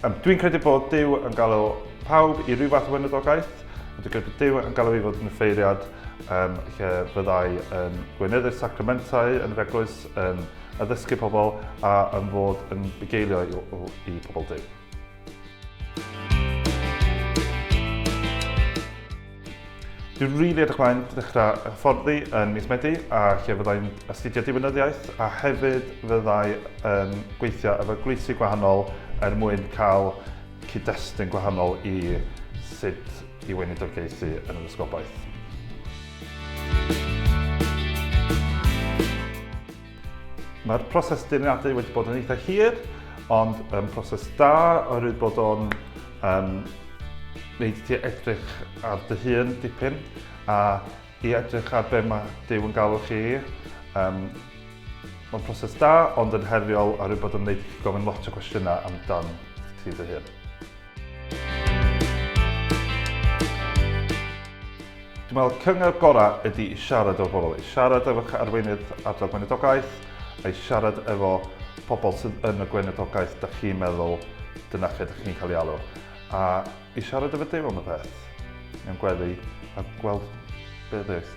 Dwi'n credu bod Duw yn galw pawb i ryw fath o weinidogaeth, ond dwi'n credu bod Duw yn galw i fod yn offeiriad um, lle fyddai yn gweinyddu'r sacramentau yn yr eglwys, yn addysgu pobl a yn fod yn bugeilio i, i pobl Duw. Dwi'n rili edrych mlaen dechrau hyfforddi yn mis Medi a lle fyddai'n astudio diwinyddiaeth a hefyd fyddai yn gweithio efo gweithlu gwahanol er mwyn cael cyd-destun gwahanol i sut i weinidogaethu yn yr ysgolbaeth. Mae'r proses dyniadu wedi bod yn eitha hir, ond um, proses da oherwydd bod o'n um, wneud ti edrych ar dy hun dipyn a i edrych ar be mae Dyw yn galw chi. Um, Mae'n proses da, ond yn heriol oherwydd bod yn gwneud gofyn lot o gwestiynau amdan ti dy hun. Dwi'n meddwl cyngor gorau ydy i siarad o'r bobl, i siarad efo'ch arweinydd ardal gweinidogaeth, a i siarad efo pobl sydd yn y gweinidogaeth da chi'n meddwl dyna lle da chi'n cael ei alw, a i siarad efo Duw am y peth, mewn gweddi, a gweld beth ddeith.